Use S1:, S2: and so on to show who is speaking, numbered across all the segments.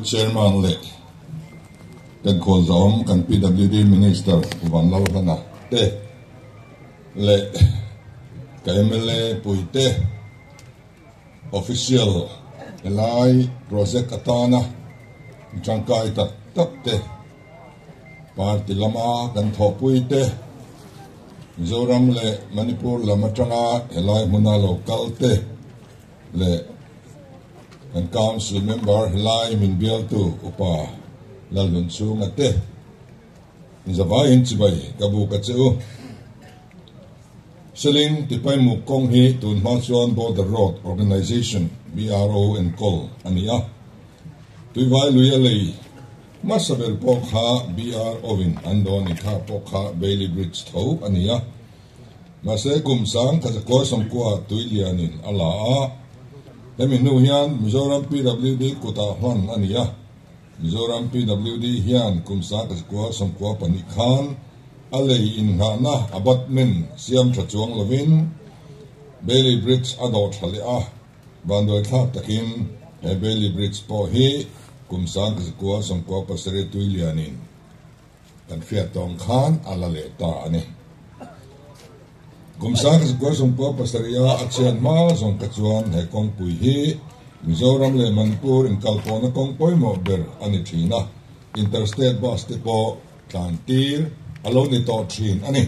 S1: Chairman leh Pengkhawr Zawng kan PWD Minister Van Lo Hlana te leh ka MLA puite, Official helai project atana tangkai tak tak te party lama kan thawhpui te Mizoram leh Manipur lam atanga helai hmuna lo kal te leh kan council member helai min bialtu upa Lalhunchhunga te Zavaiin chibai ka bu ka che u. Siling tipaimuk kawng hi tun hma chuan Border Road Organisation, BRO, enkawl a ni a, Tuivai luia lei hmasa ber pawh kha BRO in an dawn inkhah pawh kha Bailey Bridge tho a ni a. Mahse kum sang Khazakuar sawmkua Tuilianin a la a, hemi hnu hian Mizoram PWD kutah hman a ni a. Zoram PWD hian kum sangkhat kua sawmkua pahnih khan a lei innghahna abatment siam tha chuang lovin Bailey Bridge a dawh tha leh a, vanduai thlak takin he Bailey Bridge pawh hi kum sangkhat kua sawmkua pasarih Tuilianin Kan fiat tawng khan a la leh ta a ni. Gumsa ka zakual sawmpua pasarih a a chian hma zawng kha chuan he kawngpui hi Mizoram leh Manipur inkalpawhna kawng pawimawh ber a ni thin a, Interstate Bus te pawh tlantir a lo ni tawh thin a ni.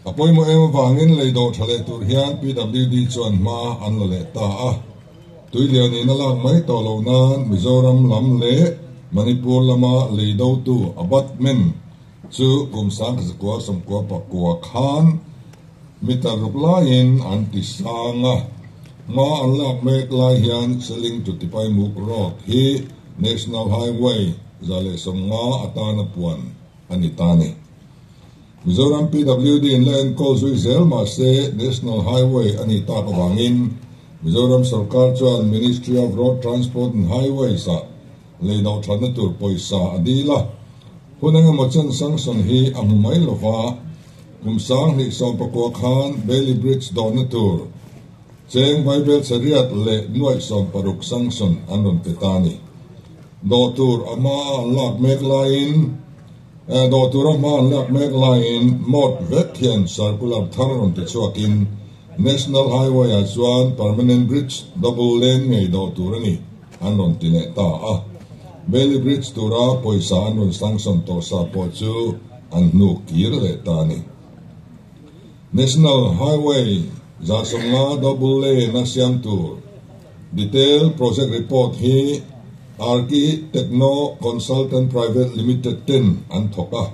S1: A pawimawh em avangin leido tha leh tur hian PWD chuan hma an la leh ta a. Tui lian in a lak mai tawh loh nan Mizoram lam leh Manipur lama lei do tu Abatmen chu kum sang ka zakua sawmkua pakua khan mi tar ruk lai in an ti sang a. Hma an lak mek lai hian Selling to Tipaimuk road hi National Highway za leh sawm nga atana puan a ni ta ni. Zoram PWD in la enkawl zui zel mah se National Highway a nih tak avangin Mizoram sawrkar chuan Ministry of Road Transport and Highways ah lei doh thatna tur pawisa a dil a. Hun engemaw chen sanction hi a hmu mai lo va, kum sang hnih sawm pakua khan Bailey Bridge dohna tur cheng vai belchhe riat leh nuaih sawm paruk sanction an rawn pe ta a ni. Doh tur a hma a an lak mek laiin, Eh dawh tur a hma an lak mek laiin mawt vek hian circular thar rawn ti chhuakin National Highway ah chuan Permanent Bridge double lane ngei dawh tur a ni an rawn ti leh ta a. Bailey Bridge tura pawisa an rawn sangsawn tawh sa pawh chu an hnuk kir leh ta a ni. National Highway Zarsonga Double Lane a siam tur Detailed Project Report hi Arki Techno Consultant Private Limited ten an thawk a,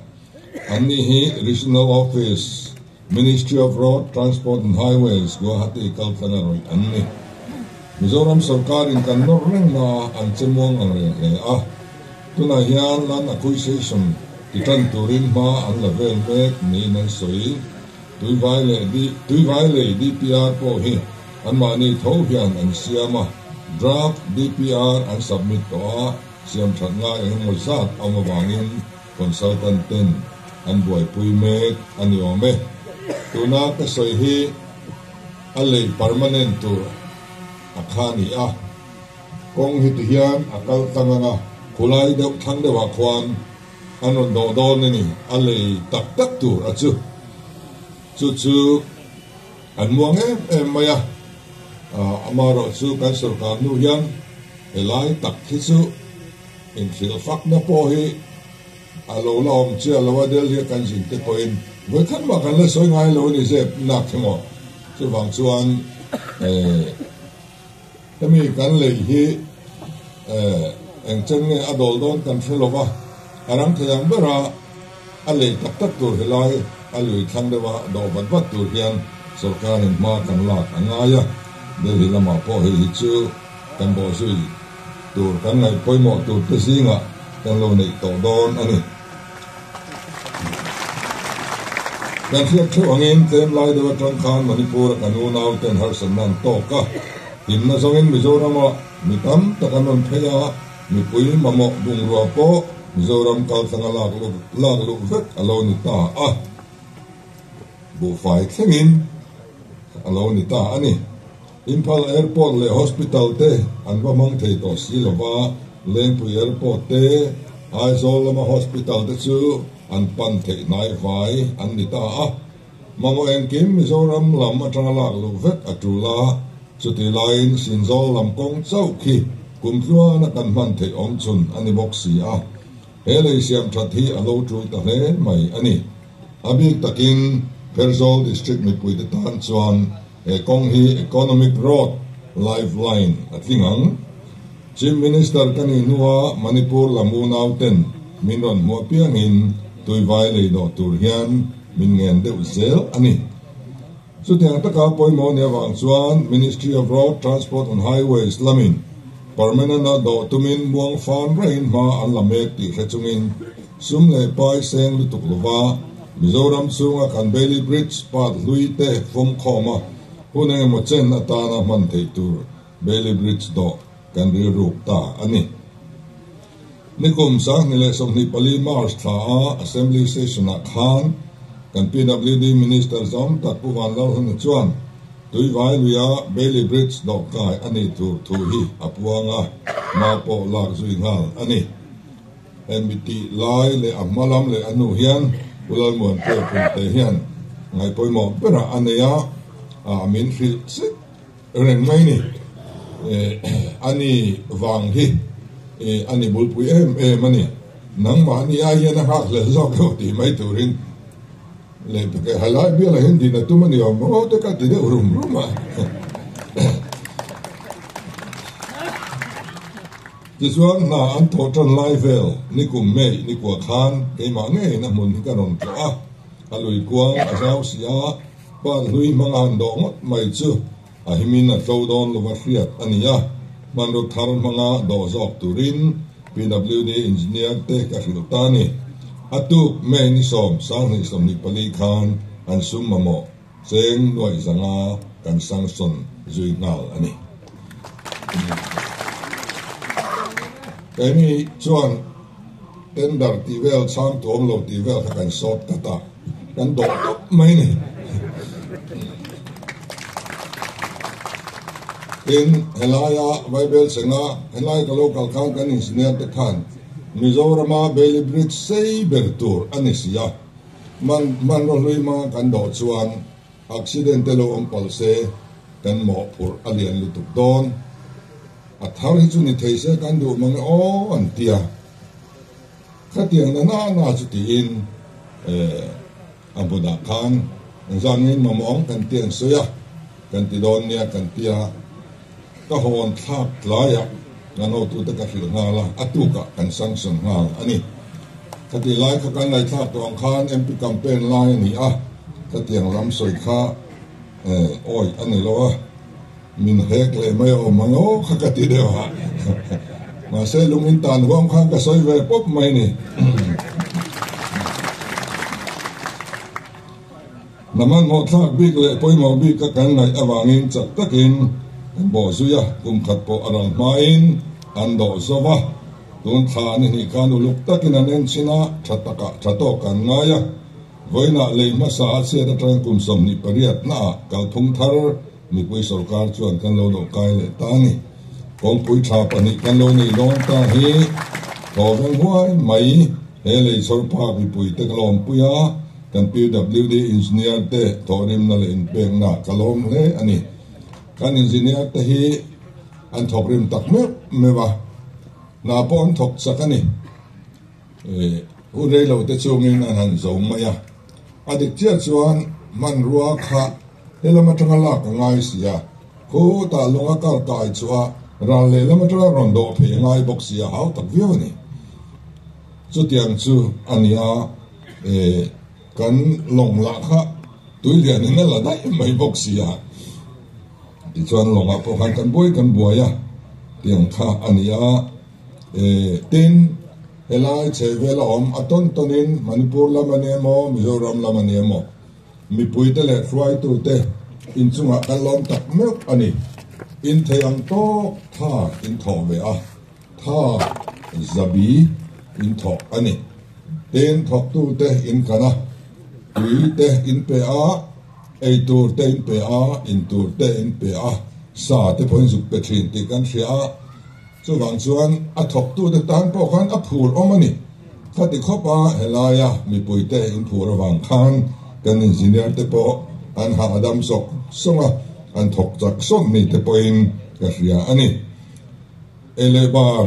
S1: annih hi Regional Office, Ministry of Road Transport and Highways, Guwahati kal tlang erawh an ni. Mizoram sorkarin kan nawr rengmah a an chemuang angreng hle a. Tunah hian an accuisation ti tan turin hma an la vel mek niin an sawi. Tuivai leh Tuivai lei DPR pawh hi anmahni tho hian an siam a, draft DPR an submit tawh a, siamthat ngai engemaw zat awm avangin consultant ten an buaipui mek a ni awm e. Tuna ka sawi hi a lei permanent tur a kha ni a. Kawng hi ti hian a kal tlang ang a, khulai deuh thlang deuhah khuan an rawn dawh dawn a ni, a lei tak tak tur a chu. Chu chu an muang em em mai a, ama erawh chu kan sawrkar nu hian he lai tak hi chu inhrilh fakna pawh hi a lo la awm chiah lo a, Delhi-a kan zin te pawhin vawi khat mah kan la sawi ngai lo a ni zep, inah khe maw chuvang chuan Hemi kan lei hi eh engcheng nge a dawl dawn kan hre lova, a rang thei ang bera a lei tak tak tur hi lai a lui thlang deuha a daw vat vat tur hian sorkar in hma kan lak a ngai a, Delhi lamah pawh hei hi chu kan bawhzui tur kan ngaih pawimawh tur te zingah kan lo neih tawh dawn a ni. Kan hriat thuh angin tlem lai deuh atang khan Manipur a kan unau ten harsatna an tawk a, hlimna zawngin Mizoramah mi tam tak an rawn phei a, mipui mamawh bungrua pawh Mizoram kaltlang a lak luh lak luh vek a lo ni ta a, buhfai thlengin a lo ni ta a ni. Imphal Airport leh Hospital te an va hmang thei tawh si lova, Lengpui Airport te, Aizawl lama Hospital te chu an pan theih hnai vai an ni ta a. Mamawh engkim Mizoram lam atanga lak luh vek a tul a, chuti laiin Sinzawl lam kawng chauh khi kum tluana kan hman theih awm chun a ni bawk si a. He lei siam that hi a lo tul ta hle mai a ni. A bik takin Kherzawl District mipuite tan chuan he kawng hi Economic Road Lifeline a tling ang. Chief Minister ka nih hnua Manipur lam unauten min rawn hmu apiangin tuivai leidawh tur hian min ngen deuh zel a ni. Chutiang taka pawimawh ni avang chuan Ministry of Road, Transport and Highways lamin Permanent-a dawh tumin muang fan raihin hma an la mek tih hre chungin sum leh pai seng lutuk lova Mizoram chhunga kan Bailey Bridge pat hlui te vawm khawma hun engemaw chen atana hman thei tur Bailey Bridge dawh kan rilruk ta a ni. Nikum sanghnih leh sawmhnih pali March thla a Assembly Session ah khan kan PWD Minister zawng tak Pu Van Lalhona chuan Tuivai luia Bailey Bridge dawh kai a nih tur thu hi a puang a, mau pawh lak zui nghal a ni. Hemi tih lai leh a hma lam leh a nu hian Pu Lalmuanpui Phunte hian ngaihpawimawh berah a nei a, a min hrilh sek. Reng mai ni eh a ni vang hi eh a ni bulpui em em a ni. Nangmah ni ai hian a nghak hlel zawk lo tih mai turin leh bik eh helai bialah hian din a tum a ni awm maw te ka ti deuh rum rum a. Tichuan hna an thaw tan lai vel ni kum mei ni kuah khan keimah ngeiin a hmun hi ka rawn trawh a, a lui kuang a zau si a. Pa hlui hmang a han dawh ngawt mai chu a him in a tlo dawn lo va hriat a ni a, hmanraw thar hmang a dawh zawk turin PWD engineer te ka hrilh ta ni. A tuk May ni sawm sang hnih sawmhnih pali khan an sum mamawh cheng nuaih zang a kan sanction zui nghal a ni. Keini chuan. Tender tih vel chhang tuam lo tih vel kha kan short cut a, kan dawh tawp mai ni. Tin, helaia Bible senga helai ka lo kal khan kan Engineer te khan Mizorama Bailey Bridge sei ber tur a ni si a, man hmanraw hlui hma kan dawh chuan accident te lo awm palh se kan mawhphurh a lian lutuk dawn. A thar hi chu ni thei se kan duh mang e aw an ti a, khatiang nana na chu tiin a hmu dah khan zangin mamawng kan ti ang sawi a kan ti dawn nia kan ti a, ka hawn thlak tlaiah kan hotu te ka hrilh nghal a, a tukah kan sanction nghal a ni. Khati lai kha kan ngaithlak tawh ang khan MP campaign lai a ni a, khatiang lam sawi kha. Eh, awi a ni lo a, min hek leh mai awm ang aw kha ka ti deuh a, mahse lungin tan huam khan ka sawi ve pawp mai ni. Na manmawhthlak bik leh pawimawh bik a kan ngaih avangin chak takin kan bawh zui a, kum khat pawh a rawn hmain an dawh zauh a, tun thla a ni hnih khan uluk takin an en chin a, tha takah tha tawk kan ngai a. Vawilah lei hmasa a chhiat atang kum sawmhnih pariat hnaah kalphung thar mipui sorkar chuan kan lo lohkai leh ta a ni. Kawngpui tha pahnih kan lo neih dawn ta hi thawveng huai mai he lei chhawr phak mipuite ka lawmpui a, kan PWD engineer te thawhrimna leh inpeknah ka lawm hle a ni. Kan engineer te hi an thawk rim tak meuh meuh a, hna pawh an thawk chak a ni. Hun rei lo te chungin an han zawm mai a, a dik chiah chuan hmanrua kha he lam atanga lak ka ngai si a, khutah lung a kar kai chuah a, ral leh lam atanga rawn dawh phei ngai bawk si a, hau tak viau a ni. Chutiang chu a ni a, kan lawng lah kha tuilian in a la daih mai bawk si a, tichuan lawngah pawh khan kan buai kan buai a, tiang kha a ni a. Tin, helai chhehvel a awm a tawn tawnin Manipur lam a nia maw, Mizoram lam a nia maw, mipuite leh hruaitute inchungah kal lawm tak meuh a ni. Inthei ang tawk tha in thawh ve a, tha zabi in thawh a ni. Tin, thawktute in kan a, tuite in pe a, ei tur te in pe a, in tur te in pe a, sa te pawh in zuk pe thin tih kan hria a, Chuvang chuan a thawktute tan pawh khan a phur awm a ni. Khati khawpa he laia mipuite in phur avang khan kan engineer te pawh an hahdam sawk sawk a, an thawk chak sawk mi te pawhin ka hria a ni. Ei leh bar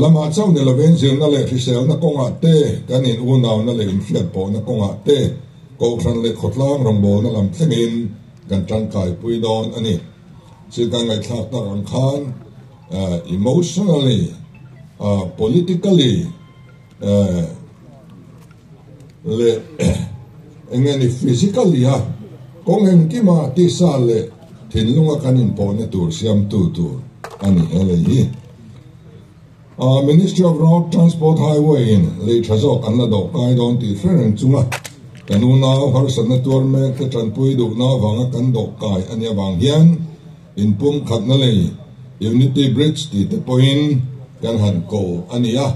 S1: lama chauh ni lovin zirna leh hriselna kawngah te, kan in unauhna leh in hriat pawhna kawngah te, Kohhran leh Khawtlang rawngbawlna lam thlengin kan tangkai pui dawn a ni. Chu kan ngaithlak tak ang khan emotionally, politically leh eng nge ni physically a kawng en kim a tihsa leh thinlung a kan inpawhna tur siamtu tur a ni e lei hi. Ministry of Road Transport Highway in lei tha zawk an la doh kai dawn tih fer ang chunga kan unau harsatna tuar mek te tanpui duhna avanga kan doh kai a nih avang hian in pumkhatna lei Unity Bridge tih te pawhin kan han ko a ni a,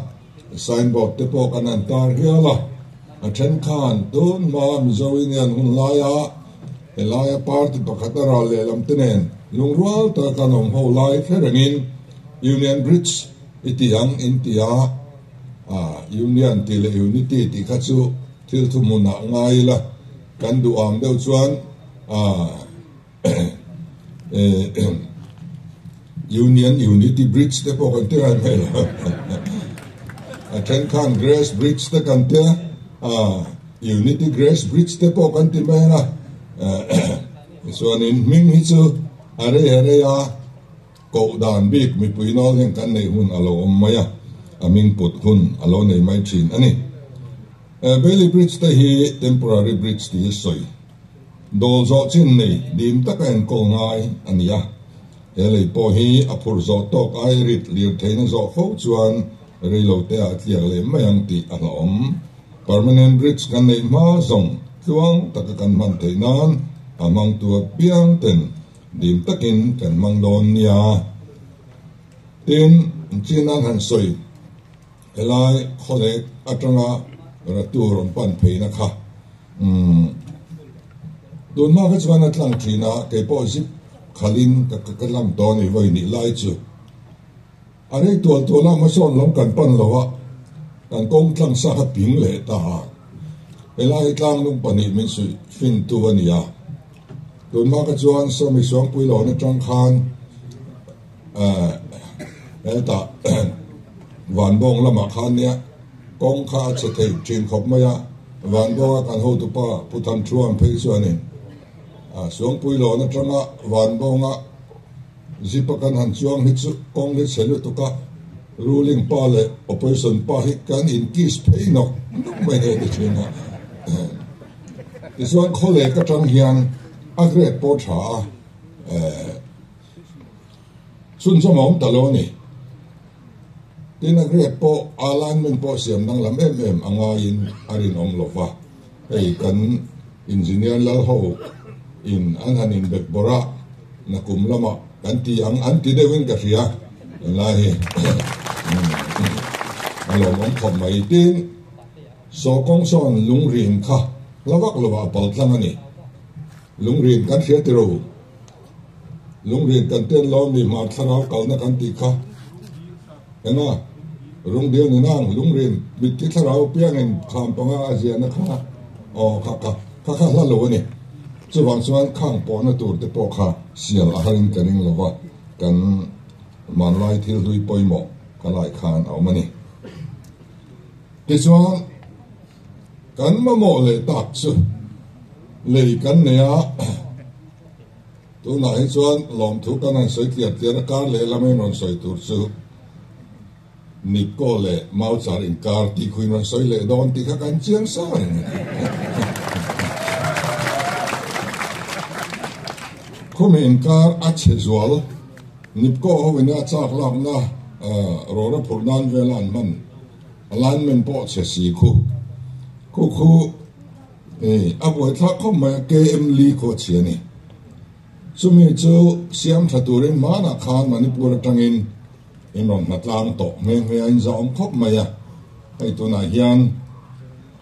S1: sign board te pawh kan han tar hial a. A then khan tun hma Mizo Union hun laia he laia party pakhata ral lehlam te nen lungrual taka kan awm ho lai fer angin, Union Bridge i ti ang in ti a, ah, Union tih leh Unity tih kha chu thil thu hmun ah ngai ila kan duh ang deuh chuan, ah, eh, Union Unity Bridge te pawh kan ti ngai mai lo. A then khan Grace Bridge te kan ti a, ah, Unity Grace Bridge te pawh kan ti mai ila, ah, tichuan in hming hi chu a rei a rei a, Koh dan bik mipui nawl heng kan neih hun a lo awm mai a, a hming put hun a lo nei mai thin a ni. Bailey Bridge te hi temporary bridge tih i sawi dawl zawh chin nei dim taka enkawl ngai a ni a, he lei pawh hi a phur zawh tawk ai rit lir theihna zawh fo chuan reilo te ah a tliak leh mai ang tih a hlawm. Permanent bridge kan neih hma zawng tluang taka kan hman theih nan a hmangtu a piang ten Dil takin kan hmang dawn nia. Tin, chin nan han sawi, helai khawlek atanga ratur rawn pan pheina kha umm tun hma kha chuan a tlang thin a, kei pawh zip khalhin ka ka tlang tawh a ni vawi nih lai chu. A rei tual tual a, Masawn lam kan pan lo a, kan kawng tlang sa kha ping leh ta a, helai tlangnung pahnih min suih fintu a ni a, tun hma kha chuan Sawmi Suangpui lawna tang khan hetah Vanbawng lamah khan nia kawng kha a che thei thin khawp mai a, Vanbawnga kan hotu pa Pu Than Thluan phei chuanin Suangpui lawna tanga Vanbawnga Zipa kan han chuang hi chu kawng ni chhe lutuk a, Ruling pa leh Opposition pa hi kan in kiss phei nawk nawk mai hi a ti thin a. Tichuan khaw lek atang hian a grade pawh a tha a, ehh chhunzawm a awm ta lo a ni. Tina Greg pawh aa lineman pawh siam danglam em em a ngaiin a rinawm lo va, hei kan engineer lal ho in an han inbek bawrh a, na kum lamah kan ti ang an ti deuh in ka hria, tunlai hi a lawmawm khawp mai, tin sawkawng sawn lungrim kha hla vak lovah a paltlang a ni, lungrim kan hria tiro. Lungrîn kan tel lo mi hmâr thlarau kalna kan tih kha ena Rungbial Ninang Lungrîn mitti thlarau piangin khâm panga a ziahna kha aw kha ka kha kha hla lo a ni. Chuvang chuan khâng pawhna tur te pawh kha siam a harin ka ring lo va, kan hmanlai thil hlui pawimawh ka laih khân a awm a ni. Tichuan kan mamawh leh tâk chu lei kan neia Tunah hi chuan lawmthu kan rawn sawi tliam tlian a, kar leh lamin rawn sawi tur chu Nipkow leh Mauchar inkar tih khuin rawn sawi leh dawn tih kha kan chiang sa reng a. Khumi inkar a chhe zual, Nipkow ho ina chak lakna rawra phurh nan vela an hman, alignment pawh a chhe si khu khu khu. Hei a buaithlak khawp mai a KM Lee Khuachhia ni. Chumi chu siamtha turin hmanah khan Manipur atangin in rawn hnatlâng tawh nghe nghe a, in zahawm khawp mai a. Hei tunah hian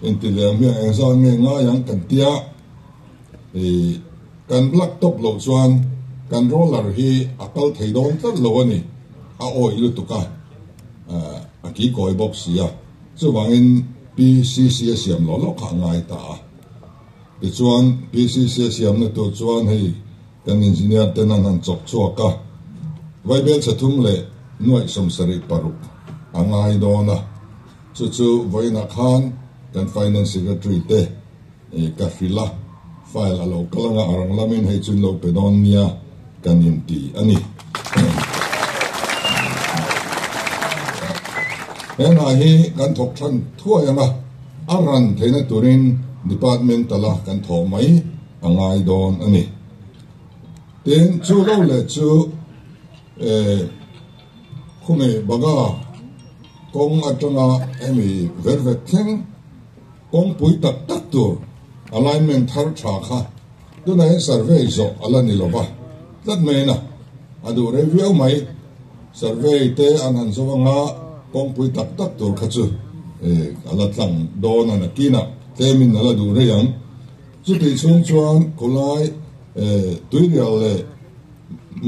S1: in ti lem hi a eng zâwk nge ngai ang kan tia, i kan black top loh chuan kan roller hi a kal thei dawn tlat lo a ni, a awih lutuk a, a kikawi bawk sia. Chuvangin PCC a siam loh loh kha a ngai ta a. Tichuan PCC a siamna tur chuan hei kan engineer ten an han chawp chhuak a, Vaibelchhe thum leh Nuaihsawm sarih paruk a ngai dawn a. Chu chu vawiinah khan kan finance secretary te, Eh ka hri la, file a lo kal anga a rang la min hei chuin lo pe dawn nia kan in ti a ni. He hna hi kan thawk than thuai anga a ran theihna turin departmental a kan thawh mai a ngai dawn a ni. Tin chu lo leh chu eh khumi baga kawng atanga hemi velvet thleng Kawngpui tak tak tur alignment thar tha kha tunaiin survey zawh a la ni lova, tlat maiin a a duh rei viau mai. Survey te an han zawh anga kawngpui tak tak tur kha chu a la tlang dawn a nakinah tlemin a la duh rei ang. Chutih chhung chuan khulai Tuirial leh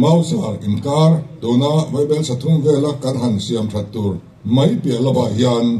S1: Mauzar inkar tuna Vaibelsa thum vela kan han siam that tur mai piah lovah hian,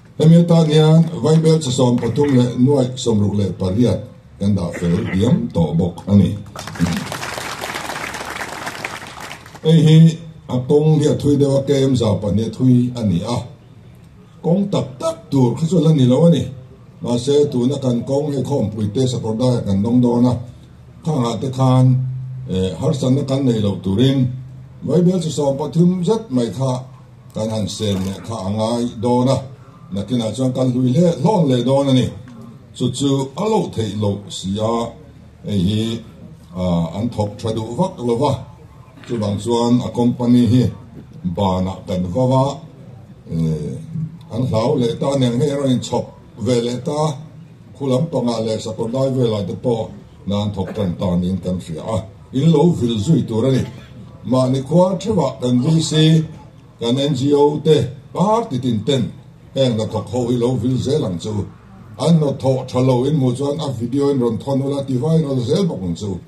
S1: Hemi atan hian Vaibel chi sawm pathum leh nuaih sawmruk leh pariat kan dah fel diam tawh bawk a ni. Hei hi a kawng hi a thui deuh a, KM zau pahnih a thui a ni a, kawng tak tak tur kha chu la ni lo a ni. Mahse tuna kan kawng hei khawmpui te sakawr daiah kan dawng dawn a, kha nghah te khan harsatna kan nei loh turin Vaibel chi sawm pathum zet mai kha, Kan han sem leh kha a ngai dawn a, nakinah chuan kan hlui hle hlawn leh dawn a ni. Chu chu a lo theih loh si a, hei hi an thawk tha duh vak lo va, chuvang chuan a company hi banah kan va va an hlau leh ta aniang hei a rawn inchhawp ve leh ta, khulam panga leh sakawr lai velah te pawh nan thawk tan ta niin kan hria a. In lo vil zui tur a ni. Mahni khua theuhah kan VC, kan NGO te, party tin ten heng hnathawk ho hi lo vil zel ang chu. An hnathawh tha lo in hmuh chuan a video in rawn thawn ula ti vai rawn la zel bawk ang chu.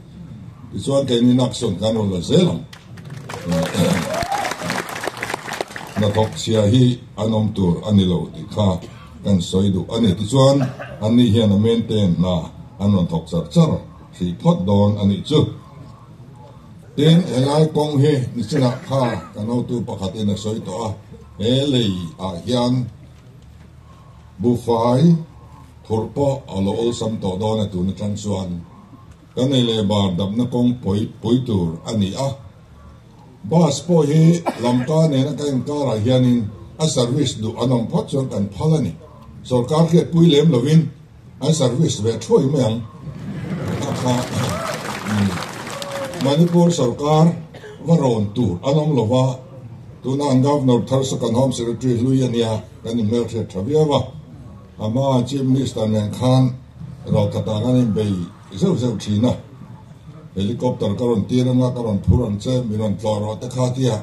S1: Tichuan kei ni nak sawn kan rawn la zel ang. Hnathawk chhia hi an awm tur a ni lo tih kha kan sawi duh a ni. Tichuan an nih hian a maintain hna an rawn thawk char char. Thei phawt dawn a nih chu. Tin, he lai kawng hi nichinah kha ka nautu pakhatin a sawi tawh a, he lei ah hian bufai phurh pawh a lo awlsam tawh dawn a tun atang chuan ka nei leh bar damna kawng pawi pui tur a ni a. Bus pawh hi lam kar nena ka inkar ah hianin a service duh an awm phawt chuan kan phal a ni. Sorkar khi a pui lem lovin An service ve thuai mai ang. Manipur sawrkar va rawn tur a awm lo va, tuna an Governor Tharsaka Home Secretary Hlui a nia kan inhmel hriat tha viau a, ama Chief Minister nen khan rau tak ah kan inbei zeuh zeuh thin a, helicopter ka rawn tir anga ka rawn phur ang che mi rawn tlawh rawh te kha tia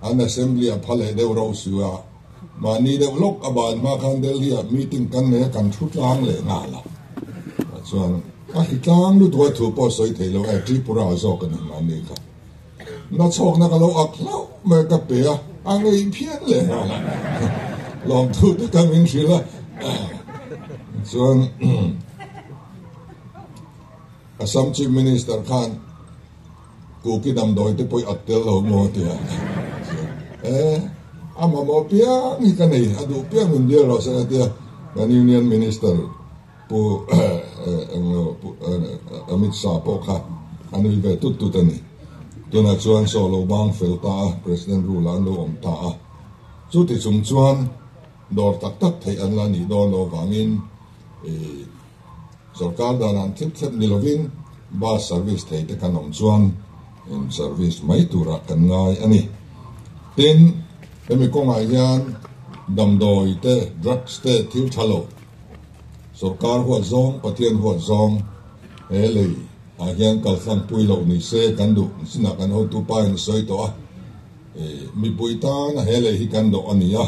S1: an Assembly a pha leh deuh rau suh a. Mahni deuh lawk a ban hma khan Delhi-ah meeting kan nei a, kan thu tlang leh nghal a. Tichuan a hi tlang lutuk a thu pawh sawi thei lo e, Tripura zawk a ni mahni kha. Na chhawkna ka lo ak hlauh mai ka pe a, a ngei phian leh nghal a. Lawmthu te ka min hrilh a. Tichuan. Assam Chief Minister khan Kuki damdawite pawh i at tel lo maw tia ka zir a, e a mamawh piang hi ka nei a duh piang min bial rawh se ka tia kan Union Minister Pu Amit Shah pawh kha a nui ve tut tut a ni. Tunah chuan saw lo bang fel ta a, President rule ah an lo awm ta a, chuti chung chuan dawr tak tak theih an la nih dawn lo vangin i, Sawrkar danah an thip thlep ni lovin bus service thei te kan awm chuan in service mai turah kan ngai a ni. Tin, hemi kawngah hian damdawi te, drugs te thil tha lo. Sawrkar huat zawng, Pathian huat zawng, he lei ah hian kal hlan pui loh ni se kan duh ni sinah kan hotu pa in a sawi tawh a, mipui tana he lei hi kan dawh a ni a.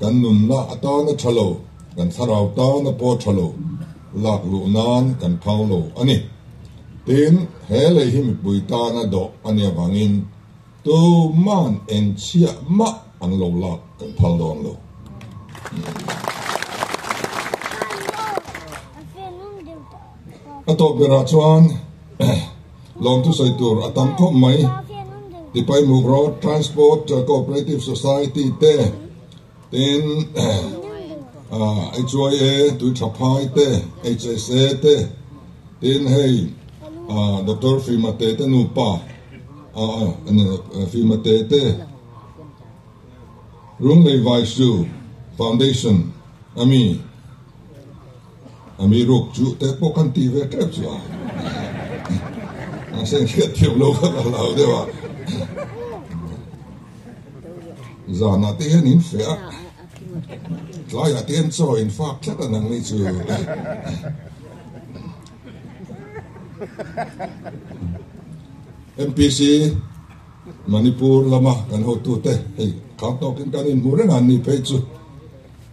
S1: Kan nunna atana tha lo, kan thlarau tana pawh tha lo lak luh nan kan phau lo a ni. Tin, he lei hi mipui tana dawh a nia vangin tu man eng chiah mah an lo lak kan phal dawn lo. A tawp berah chuan. Lawmtu sawi tur a tam khawp mai. Tipaimuk Road Transport Cooperative Society te, tin HYA tui tha phai te, HSA te, tin hei Doctor Fima Te te nupa, Fima Te te, Runglei Vaisu Foundation ami, Ami ruak chu teh pawh kan ti ve tep chu a mahse engkhia thiam lo kha ka la deuh a zanah te hian in fe a tlaiah te hian chaw in fak tlat a nang ni chu MPC Manipur lama kan hotu te hei khar tawkin kan inhmuh reng a ni phei chu.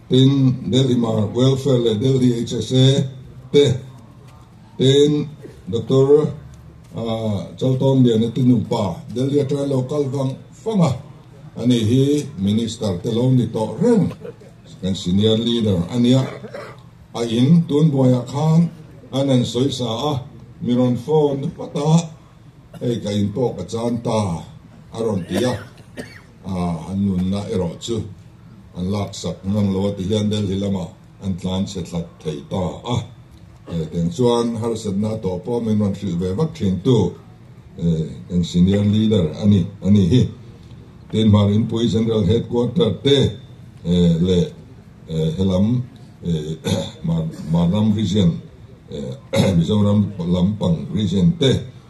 S1: Tin, Delhi Mar Welfare leh Delhi HSA te tein Doctor Chaltawmliana te nupa Delhi aṭanga local vang fanga a nih hi Minister te lo ni tawh reng kan Senior Leader a nia. A in tun buaiah khan an an sawi sa a, mi rawn phone vat a, hei ka in pawh ka chan ta a rawn ti a. An nunna erawh chu an lak sak ngang lo a ti hian Delhi lama an tlan chhe tlat thei ta a. Tiang chuan harsatna a tawh pawh min rawn hrilh ve vak thin tu eng senior leader a ni a nih hi. Tin hmar inpui general headquarter te leh helam Marnam region Mizoram lampang region te,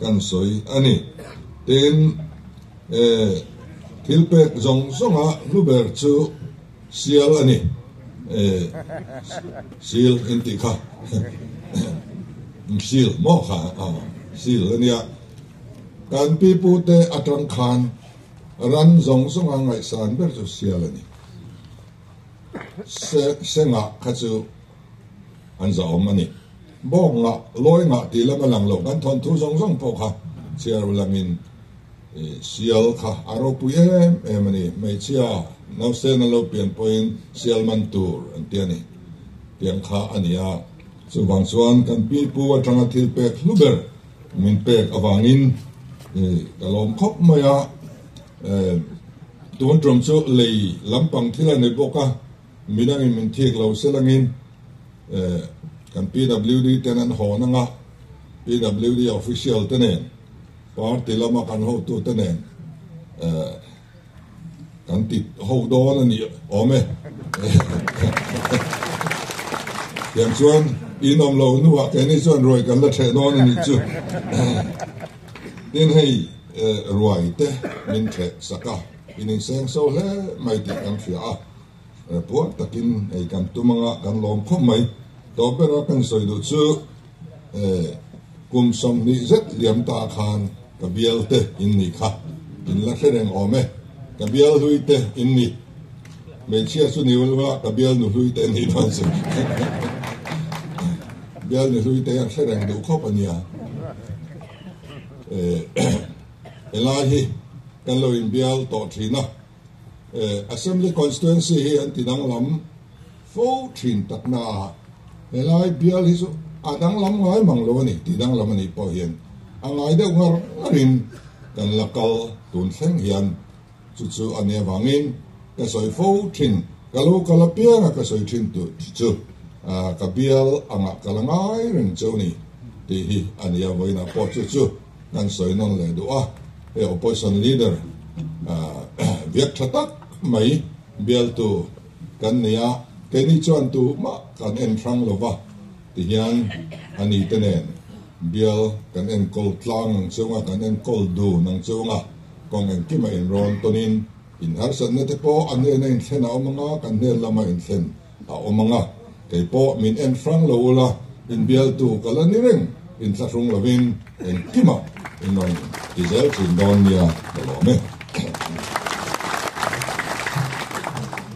S1: kan sawi a ni. Tin, he thilpek zawng zawnga hnu ber chu sial a ni. Sil intih kha sil maw kha? Sil a nia. Kan pi pu te a tang khan ran zawng zawnga ngaihsan ber chu sial a ni. Sengah kha chu an za awm a ni. Bawk ngah, lawi ngah tih lam a lang lo. Kan thawn thu zawng zawng pawh kha chhiarlo lang in sial kha a ropui em em a ni. Hmeichhia nausen an lo pian pawh in sial man tur an ti a ni. Tiang kha a ni a. Chuvang chuan kan pi pu atanga thil pek hlu ber min pek avang in ka lawm khawp mai a. Tun ṭawm chu lei lampang thil a ni bawk a. Midang in min thik lo se langin kan PWD ten an hawn ang a, PWD official te nen, party lama kan hotu te nen kan ti ho dawn a ni awm e. Tiang chuan in awm lo hnu ah keini chuan ruai kan la theh dawn a nih chu. Tin hei ruai te min theh sak a, in inseng so hle mai tih kan hria a. Puar takin hei kan tum anga kan lawm khawp mai. Tawp bera kan sawi duh chu kum sawmhnih zet liam ta khan ka bial te in ni kha in la hre reng awm e. Ka bial hlui te in ni. Hmeichhia chu ni ulva ka bial nu hlui te ni dawn si. Bial nu hlui te hian hre reng duh khawp a nia. Helai hi kan lo in bial tawh thin a. Assembly Constituency hi an tidang lam fo thin takna a, helai bial hi chu a dang lam ngai mang lo a ni, tih dang lam anih pawh hian a ngai deuh ngar ngar in kan la kal tun thleng hian chu chu a nia vangin ka sawi fo thin, ka lo kal apianga ka sawi thin tur hi chu ka bial angah ka la ngai reng chu a ni tih hi a nia vawiinah pawh chu chu. Kan sawi nawn leh duh a, hei opposition leader viak tha tak mai bialtu kan ni a, keini chuan tu mah kan en thrang lo va ti hian a ni te nen bial kan en kawl tlang ang chung a, kan en kawl dun ang chung a, kawng engkim a inrawn tawn in inharsatna te pawh an nen a inthlen a awm ang a, kan hner lam a inthlen. A awm ang a, kei pawh min en hrang lo ula, inbialtu ka la ni reng, inthlahrung lovin engkimah in rawn ti zel thin dawn nia ka lawm e.